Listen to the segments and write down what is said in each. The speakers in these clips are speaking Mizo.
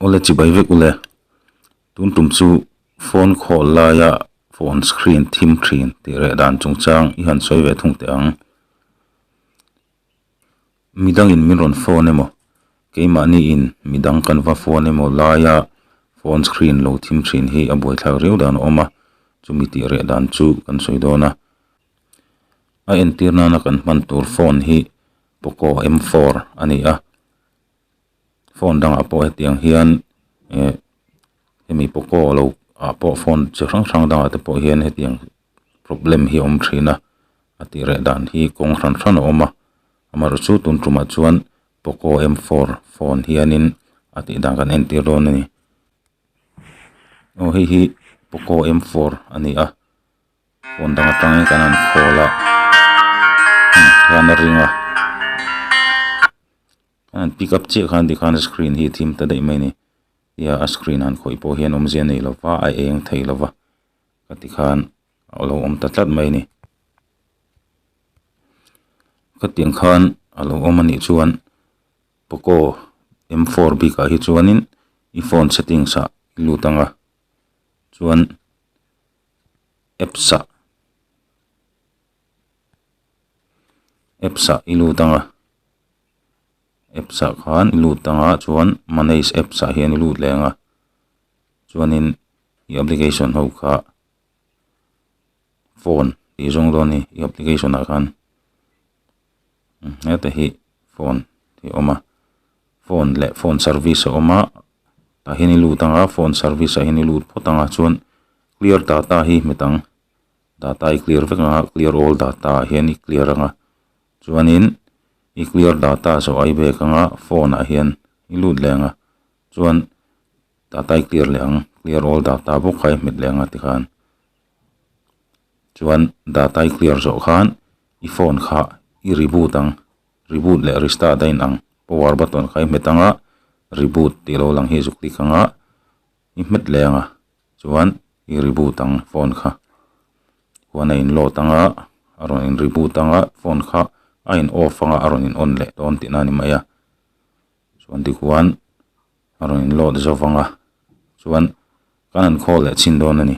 Awle chi bai vek ule, tun tum chu phone call laia phone screen thim thin tih reh dan chung chang i han sawi ve thung teh ang. Mi dangin min rawn phone emaw, keimahni in mi dang kan va phone emaw laia phone screen lo thim thin hi a buaithlak riau dan a awm a, chumi tih reh dan chu kan sawi dawn a. A entir nana kan hman tur phone hi poco m four a ni a phone dangah pawh hetiang hian eh hemi poco lo ah pawh phone chi hrang hrang dangah te pawh hian hetiang problem hi a awm thin a a tih reh dan hi kawng hran hran a awm a amaherawh chu tun tumah chuan poco m four phone hianin a tih dan kan entir dawn a ni aw hei hi poco m four a ni a. Phone dang atangin kan han call a, hian a ring a, a han pick up chiah khan tikhan screen hi a thim ta daih mai a ni, tia a screen han khawih pawh hian awmzia nei lo va, a eng thei lo va ka tikhan a lo awm ta tlat mai a ni. Ka tiang khan a lo awm a nih chuan poco m four bikah hi chuanin i phone settings ah i lut ang a, chuan apps ah apps ah i lut ang a apps ah khan i lut ang a chuan manage apps ah hian i lut leh ang a chuanin i application ho kha phone tih zawng dawn a ni i application ah khan-- heta hi phone hi awm a phone leh phone service a awm a tah hian i lut ang a phone service ah hian i lut phawt ang a chuan clear data hi hmet ang data i clear vek ang a clear all data ah hian i clear ang a chuanin i clear data zawh ai bek ang a phone ah hian i lut leh ang a chuan data i clear leh ang clear all data bawk a i hmet leh ang a tikhan. chuan data i clear zawh khan i phone kha i reboot ang reboot leh restart a inang power button kha i hmet anga reboot tih lo lang hi zuk tik anga i hmet leh anga chuan i reboot ang phone kha huan a in load anga a rawn in reboot anga phone kha a in off anga a rawn in on leh dawn tihna a ni mai a chuan tichuan a rawn in load zâwk anga chuan kan an call leh chhin dawn a ni.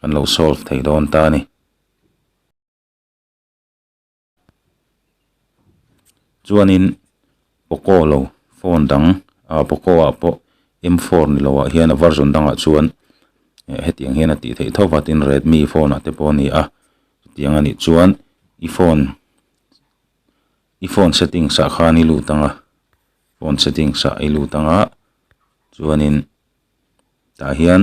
Kan lo solve thei dawn ta a ni. Chuanin poco lo phone dang a poco ah pawh m four ni loh ah hian a version dang ah chuan hetiang hian a tih theih tho va tin redmi phone ah te pawh a ni a tiang a nih chuan i phone i phone settings ah khan i lut anga phone settings ah i lut anga chuanin tah hian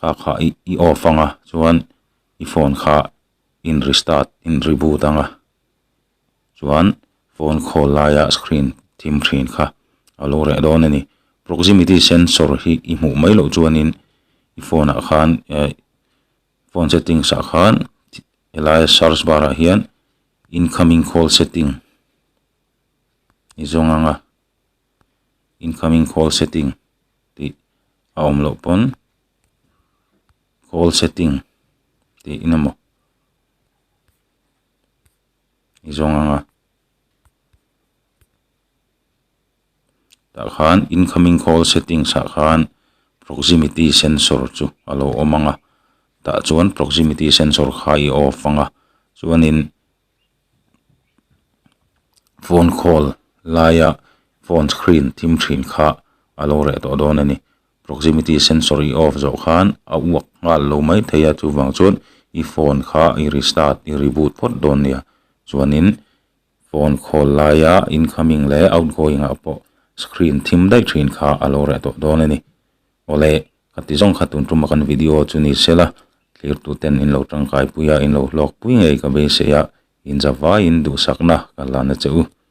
Kha kha i off anga chuan i phone kha in restart in reboot anga chuan phone call laia screen thim ṭhin kha a lo reh dawn a ni. Proximity sensor hi i hmuh mai loh chuanin i phone ah khan phone settings ah khan helaia search bar ah hian incoming call setting i zawng anga incoming call setting tih a awm loh pawn call setting tih in amaw i zawng ang a tah khan incoming call settings ah khan proximity sensor chu a lo awm ang a tah chuan proximity sensor kha i off ang a chuanin-- phone call laia phone screen thim thin kha a lo reh tawh dawn a ni. Proximity sensor i off zawh khan a uak nghal lo mai thei a, chuvang chuan i phone kha i restart i reboot phawt dawn nia. Chuanin phone call laia incoming leh outgoing ah pawh screen thim daih thin kha a lo reh tawh dawn a ni. Awle. Ka ti zawng kha tun ṭuma kan video chu ni sela, thlirtuten in lo ṭangkai pui a, in lo hlawk pui ngei ka beisei a, inzavaiin duhsakna ka la na che u.